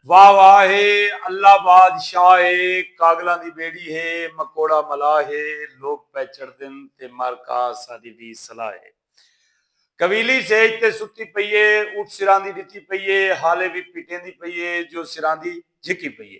واہ واہ ہے اللہ باد شاہ ہے کاگلاں دی بیڑی ہے مکوڑا ملاح ہے لوک پے چڑھدن تے مر کا ساڈی وی صلاح ہے کویلی سیج تے ستی پئی ہے اٹھ سراندی ڈتی پئی ہے حالے وی پیٹیندی پئی ہے جو سراندی جھکی پئی ہے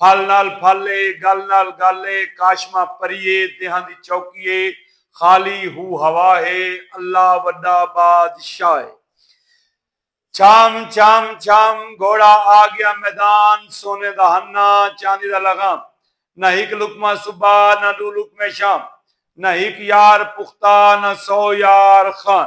پھل نال پھل اے، گل نال گل اے، کاشما پری اے، دیہاں دی چوکی اے، خالی ہو ہوا ہے، اللہ وڈا باد شاہ اے۔ چھام چھام چھام، گھوڑا آ گیا میدان، سونے دا ہنہ، چاندی دا لغام، نہ ہک لقمہ صبح، نہ ڈو لقمے شام، نہ ہک یار پختہ، نہ سو یار خان،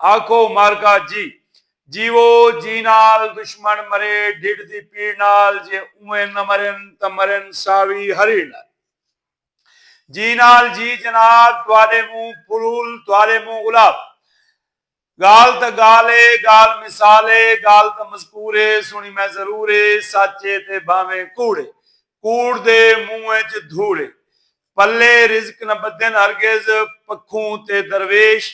آکھو مارکا جی جیوو جی نال دشمن مرے ڈھڈ دی پیڑ نال جے اوویں نہ مرن تاں مرن ساوی ہری نال جی نال جی جناب تہاڈے منہ پھول تہاڈے منہ گلاب گال تاں گال اے گال مثال اے گال تاں مذکور اے سنڑی میں ضرور اے سچ اے تے بھانویں کوڑ اے کوڑ دے منہ اچ دھوڑ اے پلے رزق نہ بدھن ہرگز پکھوں تے درویش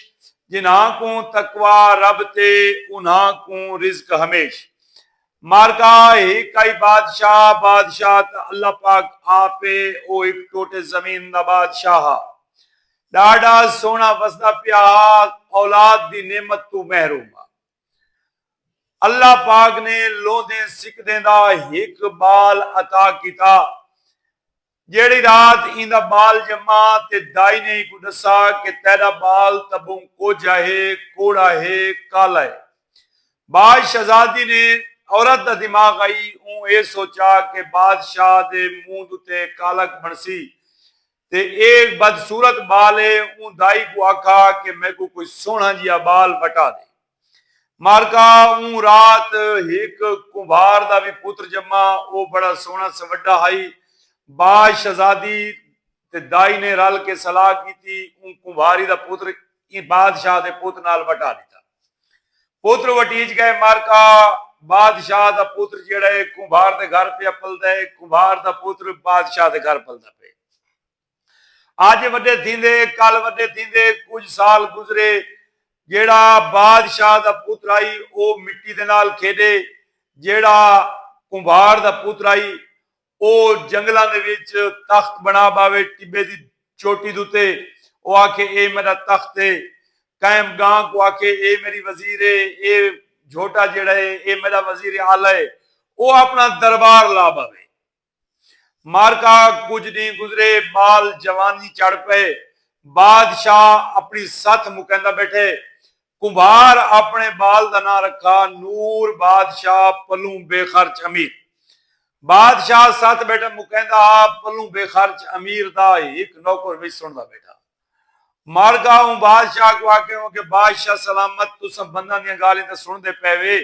جنہاں کوں تقوی رب تے انہاں کوں رزق ہمیش مارکا ہک آئی بادشاہ بادشاہ تاں اللہ پاک آپ اے او ہک ٹوٹے زمین دا بادشاہ ہا ڈاڈھا سوہنا وسدا پیا ہا اولاد دی نعمت توں محروم ہا اللہ پاک نے لوندیں سکدیں دا ہک بال عطا کیتا جیڑھی رات ایندا ٻال ڄما تے دائی نے اینکوں ݙسا کہ تیݙا ٻال تبوں کوجھا ہے، کوڑا ہے، کالا ہے۔ باز شہزادی نے عورت دا دماغ آئی اوں اے سوچا کہ بادشاہ دے منہ دتے کالک بݨسی تے اے بدصورت ٻال ہے اوں دائی کوں آکھا کہ میکوں کوئی سوہݨا جیہا ٻال وٹا ݙے۔ مارکا اوں رات ہک کمبھار دا وی پتر جما۔ او بڑا سوہݨا سوڈھا ہئی۔ با شہزادی تے دائی نے رل کے صلاح کیتی۔ اوں کمبھاری دا پتر ایں بادشاہ دے پت نال وٹا ݙتا۔ پتر وٹیج ڳئے۔ مارکا بادشاہ دا پتر جیڑھا ہے کمبھار دے گھر پیا پلدا ہے۔ کمبھار دا پتر بادشاہ دے گھر پلدا پئے۔ اج وڈے تھیندے کل وڈے تھیندے کجھ سال گزرے جیڑھا بادشاہ دا پوترا ہی او مٹی دے نال کھیڈے جیڑھا کمبھار دا پوترا ہی او جنگلاں دے وچ تخت بنا باوے ٹبے دی چوٹی دوتے او آکھے اے میڈا تخت ہے قائم گاں کو آکھے اے میڈی وزیر ہے اے جھوٹا جیڑھا ہے اے میڈا وزیر اعلی ہے او اپنا دربار لا باوے۔ معرکہ کجھ ڈینہہ گزرے بال جوانی چڑھ پئے۔ بادشاہ اپݨی ستھ مکیندا بیٹھے۔ کمبھار اپݨے بال دا ناں رکھا نور بادشاہ پلوں بے خرچ امیر۔ بادشاہ ستھ بیٹھے مکیندا ہا پلوں بے خرچ امیر دا ہک نوکر وچ سݨدا بیٹھا۔ مر گا اوں بادشاہ کوں آکھے ہوں کہ بادشاہ سلامت تساں بنداں دیاں گالھیں تاں سنڑدے پئے وے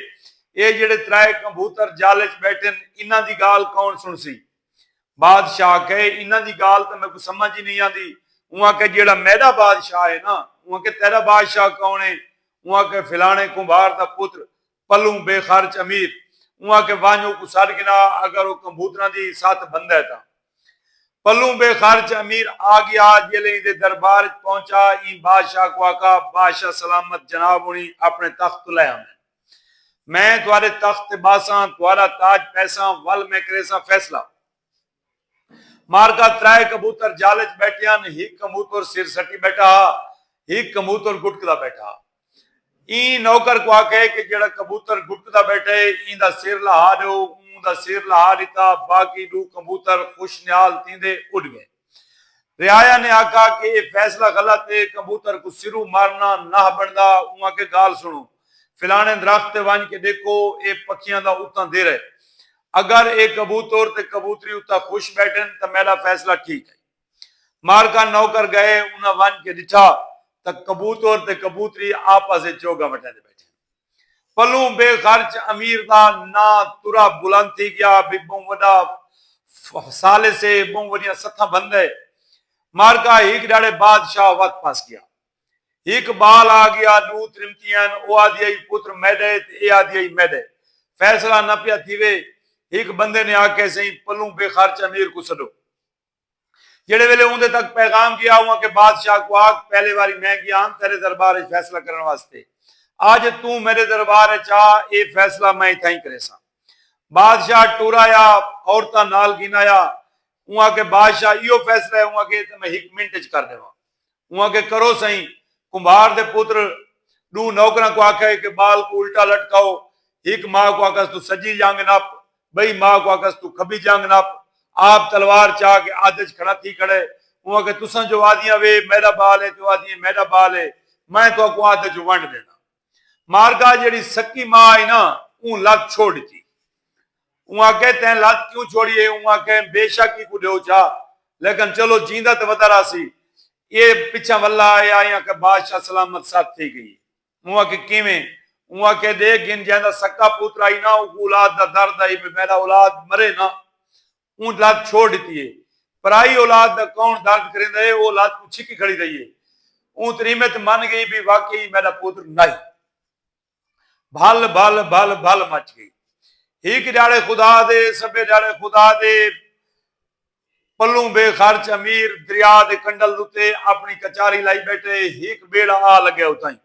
اے جیڑھے ترائے کمبوتر جال اچ بیٹھن انہاں دی گالھ کون سنڑسی بادشاہ آکھے انہاں دی گالھ تاں میکوں سمجھ ای نئیں آندی اوں آکھے جیڑھا میڈا بادشاہ اے نا اوں آکھے تیڈا بادشاہ کون اے اوں آکھے فلانے کمبھار دا پتر پلوں بے خرچ امیر اوں آکھے ونج اوکوں سڈ گھنا اگر او کمبوتراں دی ستھ بھندے تاں۔ پلوں بے خرچ امیر آگیا جیلے ایندے دربار اچ پہنچا ایں بادشاہ کوں آکھا بادشاہ سلامت جناب ہنڑی اپنڑے تخت توں لے آندن میں تہاڈے تخت تے باساں تہاڈا تاج پیساں ول میں کریساں فیصلہ۔ مارکا ترائے کبوتر جال اچ بیٹھے ہن ہک کموتر سر سٹی بیٹھا ہا ہک کموتر گٹکدا بیٹھا ہا ایں نوکر کو آکھے کہ جیڑا کبوتر گٹکدا بیٹھے ایندا سر لہا ڈیو اوں دا سر لہا ڈتا باقی ڈو کمبوتر خوش نیال تھیندے اڈ گئے رعایا نے آکھا کہ اے فیصلہ غلط اے کمبوتر کو سرو مارنا ناہ بندا اوں آکھے گال سنو فلانے درخت تے ونج کے ڈیکھو اے پکھیاں دا اتاں دیرہ اگر اے کبوتر تے کبوتری اتے خوش بیٹھن تاں میڈا فیصلہ ٹھیک ہئی۔ مارکا نوکر گئے انہاں ونج کے ڈٹھا تاں کبوتر تے کبوتری آپس اچ چوگا وٹیندے بیٹھن۔ پلوں بے خرچ امیر دا ناں ترا بلند تھی گیا بھئی بہوں وڈا فسالس اے بہوں وڈیاں ستھاں بھندے۔ مارکا ہیک ڈھاڑے بادشاہ وت پس گیا۔ ہک بال آ گیا ڈو ترمتیاں او آدھی آئی پتر میڈا ہے تے اے آدھی آئی میڈا ہے فیصلہ نہ پیا تھیوے ہک بندے نے آکھیا سئیں پلوں بے خرچ امیر کوں سڈو جیڑھے ویلے اوندے تک پیغام گیا او آکھے بادشاہ کوں آکھ پہلے واری میں گیا ہم تیرے دربار اچ فیصلہ کرن واسطے اج توں میڈے دربار اچ آ اے فیصلہ میں اتھائیں کریساں بادشاہ ٹرایا عورتاں نال گھن آیا اوں آکھے بادشاہ ایہو فیصلہ ہے اوں آکھے اے تاں میں ہک منٹ اچ کر ڈیواں۔ اوں آکھیا کرو سئیں کمبھار دے پتر ڈو نوکراں کوں آکھئے کہ بال کوں الٹا لٹکاؤ ہک ماہ کوں آکھس توں سجی جنگ نپ بئی ماہ کوں آکھس توں کھبی جنگ نپ آپ تلوار چا کے ادھ اچ کھڑا تھی کھڑئے اوں آکھیا تساں جو آدھیاں وے میڈا بال اے تے او آدھیے میڈا بال اے میں تہاکوں ادھ اچ ونڈ ڈینداں۔ مارگا جیڑھی سکی ماء ہئی نا اوں لت چھوڑ ڈتی۔ اوں آکھے تیں لت کیوں چھوڑی ہے اوں آکھے بے شک ایکوں ڈیو چا لیکن چلو جیندا تے ودا راہسی ایہ پچھاں ولا آئے آئے آکھے بادشاہ سلامت ست تھی گئی ہے اوں آکھے کیویں اوں آکھے ڈیکھ گھن جیندا سکا پوترا ہئی نا اوں کوں اولاد دا درد ہئی بے میڈا اولاد مرے نا اوں لت چھوڑ ڈتی ہے۔ پرائی اولاد دا کون درد کریندا ہے او لت کوں چھکی کھڑی رہی ہے۔ اوں تریمت من گئی بھئی واقعی ای میڈا پوتر ناہی۔ بھل بھل بھل بھل مچ گئی۔ ہک ڈیہاڑے خدا دے سبھے ڈیہاڑے خدا دے پلوں بے خرچ امیر دریا دے کنڈل دتے اپنی کچاری لائی بیٹھے ہک بیڑا آ لگیا اتائیں۔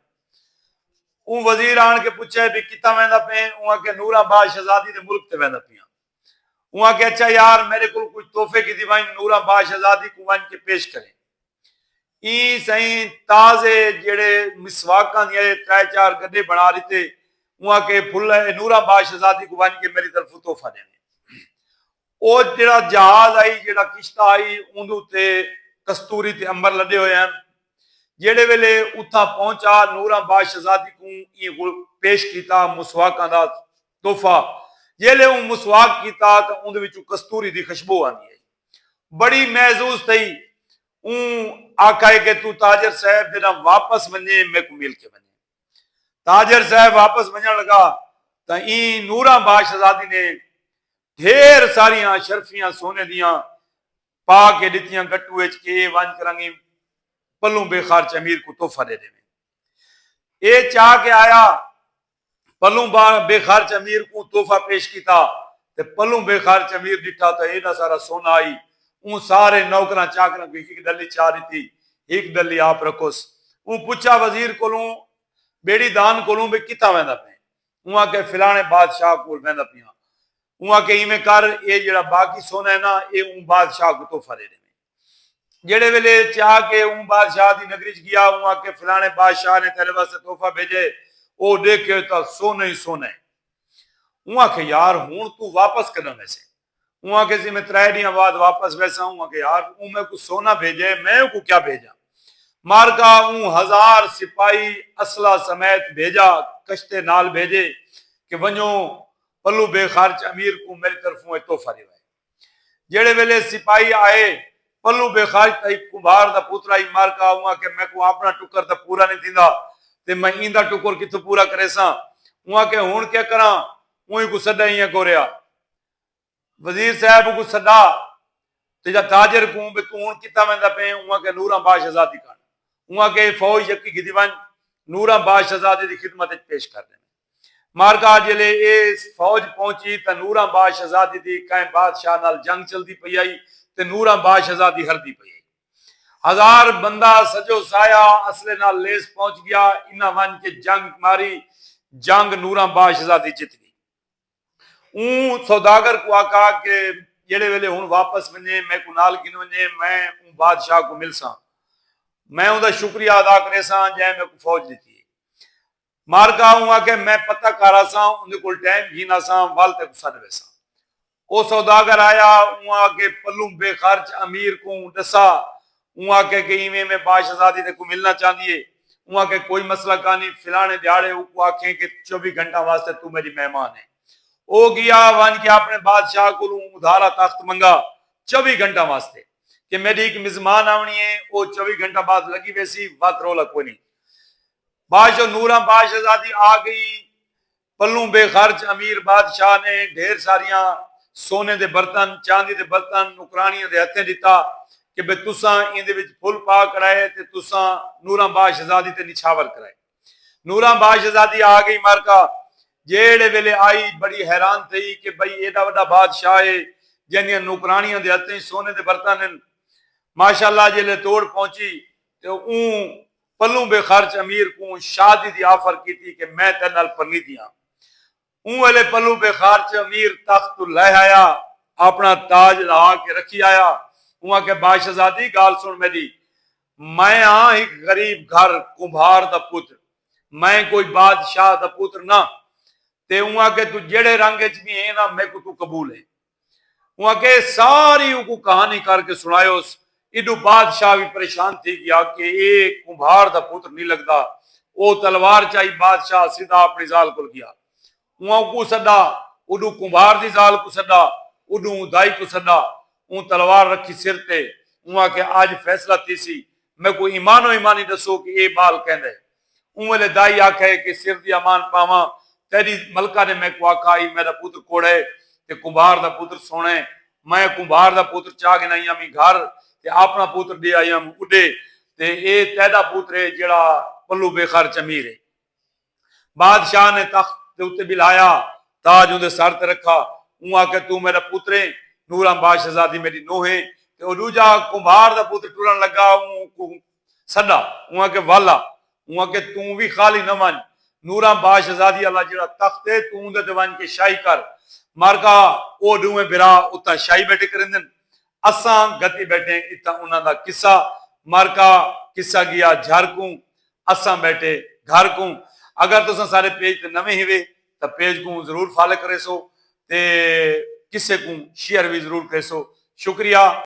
اوں وزیر آن کے پچھے بھئی کتھاں ویندا پئیں اوں آکھیا نور آباد شہزادی دے ملک تے ویندا پیاں۔ اوں آکھیا اچھا یار میڈے کول کجھ تحفے گھدی ونج نورا با شہزادی کوں ونج کے پیش کریں ایں سئیں تازے جیڑھے مسواکاں دیاں اے ترے چار گڈے بنا ڈتے اوں آکھیا اے پھل اے نورا با شہزادی کوں ونج کے میڈی طرفوں تحفہ ڈیویں او جیڑھا جہاز آئی جیڑھا کشتہ آئی اوندے اتے کستوری تے امبر لڈے ہوئے ہن جیڑھے ویلے اتھاں پہنچا نورا با شہزادی کوں ایں پیش کیتا مسواکاں دا تحفہ، جیلھے اوں مسواک کیتا تاں اوندے وچوں کستوری دی خشبو آندی ہئی۔ بڑی محظوظ تھئی۔ اوں آکھائے کہ توں تاجر صاحب دے نال واپس ونجیں میکوں مل کے ونجیں۔ تاجر صاحب واپس ونجن لگا تاں ایں نوراں با شہزادی نے ڈھیر ساریاں شرفیاں سونے دیاں پا کے ڈتیاں گٹو وچ کہ اے ونج کرنگیں پلوں بے خارچ امیر کوں تحفہ ڈے ڈیویں۔ اے چا کے آیا۔ پلوں بان بے خرچ امیر کوں تحفہ پیش کیتا تے پلوں بے خرچ امیر ݙٹھا تاں ایݙا سارا سونا آئی اوں سارے نوکراں چاکراں کوں ہک ڈلی چا ݙتی ہک ڈلی آپ رکھوس اوں پچھا وزیر کولوں بیڑی دان کولوں بھئی کتھاں ویندا پئیں اوں آکھیا فلاݨے بادشاہ کول ویندا پیاں اوں آکھیا ایویں کر اے جیڑھا باقی سونا ہے نا اے اوں بادشاہ کوں تحفہ ݙے ݙیویں۔ جیڑھے ویلے چاہ کے اوں بادشاہ دی نگری ءچ گیا اوں آکھے فلانے بادشاہ نے تیڈے واسطے تحفہ بھیجے ء او ڈیکھے تاں سونے ای سونا ء اوں آکھے یار ہنڑ توں واپس کڈاں ویسے اوں آکھے سی میں ترے ڈینہاں بعد واپس ویساں اوں آکھے یار اوں میکوں سونا بھیجے ء میں اوکوں کیا بھیجاں مارکا اوں ہزار سپاہی اسلحہ سمیت بھیجا کشتے نال بھیجے کہ ونجو پلو بے خرچ امیر کوں میڈی طرفوں اے تحفہ ڈیوائے۔ جیڑھے ویلے سپاہی آئے پلوں بے خاج تاں ہک کمبھار دا پوترا ہئی مارکا اوں آکھیا میکوں آپنڑاں ٹکر تاں پورا نئیں تھیندا تے میں ایندا ٹکر کتھوں پورا کریساں اوں آکھیا ہنڑ کیا کراں اوں اکوں سڈا ایں اکوں ریا وزیر صاحب اکوں سڈا تے جا تاجر کوں بے توں ہنڑ کتھاں ویندا پئیں اوں آکھیا نوراں با شہزادی کن اوں آکھیا اے فوج یکی گھدی ونج نوراں با شہزادی دی خدمت اچ پیش کر ڈیویں۔ مارکا جیلے اے فوج پہنچی تاں نوراں با شہزادی دی کئیں بادشاہ نال جنگ چلدی پئی ہئی تے نوراں با شہزادی ہردی پئی ہئی۔ ہزار بندہ سجو سایا اسلحے نال لیس پہنچ گیا۔ انہاں ونج کے جنگ ماری۔ جنگ نوراں با شہزادی جت گئی۔ اوں سوداگر کوں آکھا کہ جیلے ویلے ہن واپس ونجیں میکوں نال گھن ونجیں میں اوں بادشاہ کوں ملساں۔ میں اوندا شکریہ ادا کریساں جئیں میکوں فوج ڈتی ہئی۔ مارکا اوں آکھیا میں پتہ کر آساں اوندے کول ٹائم گھن آساں ول تیکوں سڈ ویساں او سوداگر آیا اوں آکھے پلوں بے خرچ امیر کوں ڈسا اوں آکھے کہ ایویں ایویں با شہزادی تیکوں ملنا چاہندی ہے اوں آکھے کوئی مسئلہ کانی فلانے دیہاڑے اوکوں آکھیں کہ چوبی گھنٹاں واسطے توں میڈی مہمان ہیں او گیا ونج کے اپنے بادشاہ کولوں ادھارا تخت منگا چوبی گھنٹاں واسطے کہ میڈی ہک مزمان آونی ہے او چوبی گھنٹاں بعد لگی ویسی وت رولا کوئی نہیں باش و نوراں باش آزادی آ گئی پلوں بے خرچ امیر بادشاہ نے ڈھیر ساریاں سونے دے برتن چاندی دے برتن نوکرانیاں دے ہتھیں ڈتا کہ بے تساں ایندے وچ پھل پا کڑائے تے تساں نوراں باش آزادی تے نچھاور کرائے نوراں باش آزادی آ گئی مرکا جیڑھے ویلے آئی بڑی حیران تھئی کہ بھئی ایڈا وڈا بادشاہ ہے جیندیاں نوکرانیاں دے ہتھیں سونے دے برتن ہن ماشاءاللہ جیلے توڑ پہنچی تے اوں پلوں بے خرچ امیر کوں شادی دی آفر کیتی کہ میں تیڈے نال پرنیدی ہاں۔ اوں ویلے پلوں بے خرچ امیر تخت توں لہہ آیا اپنا تاج لہا کے رکھی آیا۔ اوں آکھیا باشہزادی گالھ سن میڈی۔ میں ہاں ہک غریب گھر کمبھار دا پتر۔ میں کوئی بادشاہ دا پتر نہ۔ تے اوں آکھیا تو جیڈے رنگ اچ وی ہین ہاں میکوں توں قبول ہین۔ اوں آکھیا اے ساری اوکوں کہانی کر کے سنڑایوس، ایڈو بادشاہ وی پریشان تھی گیا کہ اے کمبھار دا پتر نی لگدا۔ او تلوار چائی بادشاہ سدھا اپنڑی ذال کول گیا۔ اوں اوکوں سڈا اوڈوں کمبھار دی ذال کوں سڈا اوڈوں اوں دائی کوں سڈا۔ اوں تلوار رکھی سر تے۔ اوں آکھیا اج فیصلہ تھیسی۔ میکوں ایمانو ایمانی ڈسو کہ اے بال کیندے۔ اوں ویلے دائی آکھیا اے کہ سر دی امان پاواں تیڈی ملکہ نے میکوں آکھا ہئی میڈا پتر کوڑا اے تے کمبھار دا پتر سوہنڑا اے میں کمبھار دا پتر چا گھن آئیاں وی گھر تے آپنڑا پتر ڈے آئیاں وی اڈے تے اے تیڈا پتر اے جیڑھا پلو بے خر چمیر اے۔ بادشاہ نے تخت دے اتے بلہایا تاج اوندے سر تے رکھا اوں آکھیا توں میڈا پتر اے نورامبا شہزادی میڈی نوہ اے تے او ڈوجھا کمبھار دا پتر ٹرنڑ لگا اوں کوں سݙا، اوں آکھے وال آ، اوں آکھے توں وی خالی نہ ونڄ، نوراں با شہزادی آلا جیڑھا تخت اے توں اوندے تے ونڄ کے شاہی کر، مارکا او ݙوہیں بھرا اتھاں شاہی ٻیٹھے کریندن، اساں گھتی ٻیٹھیں اتھاں انہاں دا قصہ، مارکا قصہ ڳیا جھر کوں، اساں ٻیٹھے گھر کوں، اگر تساں سارے پیج تے نویں ہیوے تاں پیج کوں ضرور فالے کریسو تے قصے کوں شیئر وی ضرور کریسو، شکریہ۔